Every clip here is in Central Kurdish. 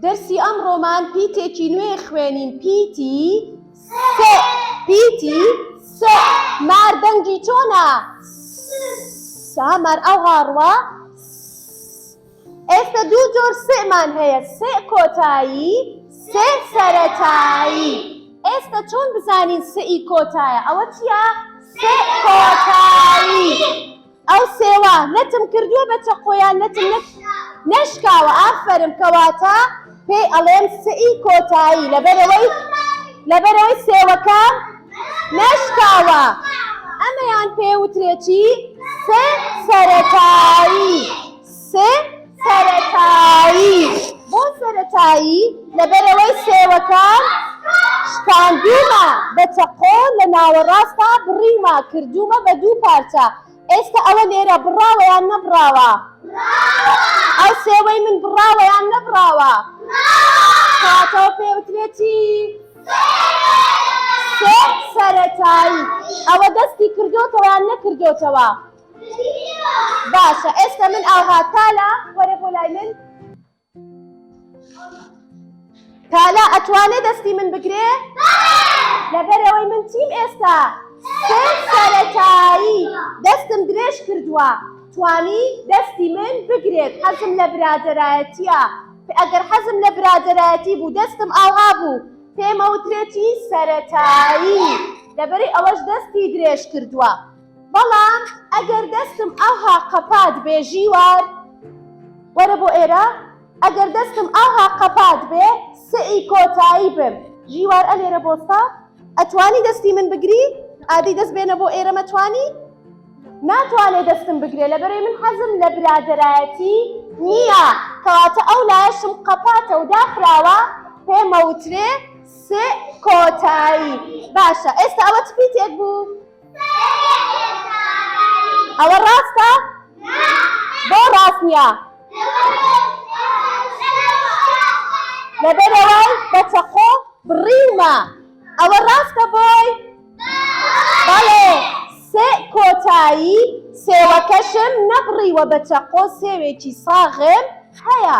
دەرسی ئەمڕۆمان پیتێکی نوێ خوێنین پیتی س پیتی س مار دەنگی چۆنە س ها مار ئاو هاڕوا س ئێستە دوو جۆر س مان هەیە س کۆتایی س سەرەتایی ئێستە چۆن بزانین س ی کۆتایە ئەوە چیە س کۆتایی. ئەو سێوە نەتم کردووە بە چەقۆیان نەتم نەک نەشکاوە ئافەرم کەواتە پێی ئەڵێم سئی کۆتایی لەبەرەوەی لەبەرەوەی سێوەکە نەشکاوە ئەمەیان پێ وترێتی سێ سەرەتایی سێ سەرەتایی، بۆ سەرەتایی؟ لەبەرئەوەی سێوەکان شکاندوومە بە چەقۆ لە ناوەڕاستا بڕیومە کردوومە بە دوو پارچە ئێستا ئەوە لێرە بڕاوە یان نەبڕاوە؟ بڕاوە ئەو سێوەی من بڕاوە یان نەبڕاوە؟ بڕاوە کەواتەوە پێ وترێ چی؟ سێ سەرەتایی ئەوە دەستی کردۆتەوە یان نەکردۆتەوە؟ باشە ئێستا من ئاها تالا وەرە بۆ لای من تالا ئەتوانێ دەستی من بگرێ لەبەرەوەی من چیم ئێستا سەرەتایی دەستم درێژ کردووە توانی دەستی من بگرێت حەزم لە برادەرایەتیە ئەگەر حەزم لە برادەرایەتی بوو دەستم ئاها بوو پێمەوترێتی سەرەتایی لەبەری ئەوەش دەستی درێژ کردووە بەڵام ئەگەر دەستم ئاوها قەپات بێ ژیوار وەرە بۆ ئێرە ئەگەر دەستم ئاوها قەپات بێ سەعی کۆتایی بم ژیوار ئەلێرە بۆستا ئەتوانی دەستی من بگری ئادی دەست بێنە بۆ ئێرە مەتوانی ناتوانێ دەستم بگرێ لە بەرەی من حەزم لە برادەرایەتی نییە کەواتە ئەو لایەشم قەپاتە و داخراوە پێمەوترێ سئ کۆتایی باشە ئێستا ئەوە چ پیتێک بوو؟ ئەوە ڕاستە؟ بۆ ڕاست نییە؟ لەبەرەوەی بە چەقۆ بڕیومە ئەوە ڕاستە بۆی؟ بەڵێ سێ کۆتایی سێوەکەشم نەبڕیوە بە چەقۆ سێوێکی ساغم هەیە.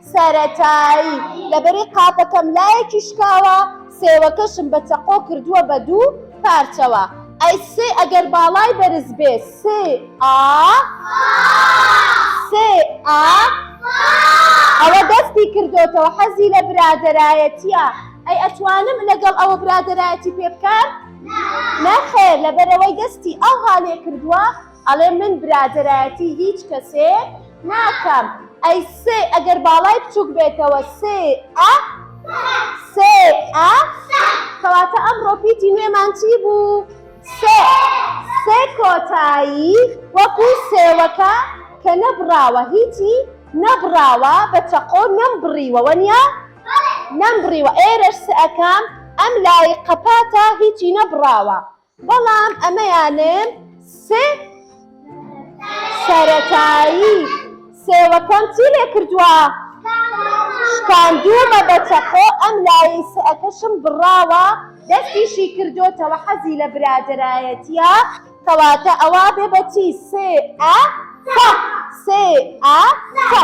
سەرەتایی لە بەرەی قاپەکەم لایەکی شکاوە، سێوەکەشم بە چەقۆ کردووە بە دوو پارچەوە. ئەی سێ ئەگەر باڵای بەرز بێ؟ سێ ئا؟ سێ ئا؟ ئەوە دەستی کردۆتەوە حەزی لە برادەرایەتییە. ئەی ئەتوانم لەگەڵ ئەوە برادەرایەتی پێ بکەم؟ نەخێر، لەبەرئەوەی دەستی ئاوها لێ کردووە. ئەڵێ من برادەرایەتی هیچ کەسێک ناکەم ئەی سێ ئەگەر باڵای بچووک بێتەوە سێ ئە سێ ئە کەواتە ئەمڕۆ پیتی نوێمان چی بوو سێ سێ کۆتایی وەکو سێوەکە کە نەبڕاوە هیچی نەبڕاوە بە چەقۆ نەم بڕیوە وەنیا نەم بڕیوە ئێرەش سئەکەم ئەم لای قەپاتە هیچی نەبڕاوە بەڵام ئەمەیانن سێ سەرەتایی سێوەکەم چی لێ کردووە شکاندوومە بە چەقۆ ئەم لایەی سەکەشم بڕاوە دەستیشی کردۆتەوە حەزی لە برادەرایەتیە کەواتە ئەوا بێ بەچی سێ ئە سە سێ ئە سە.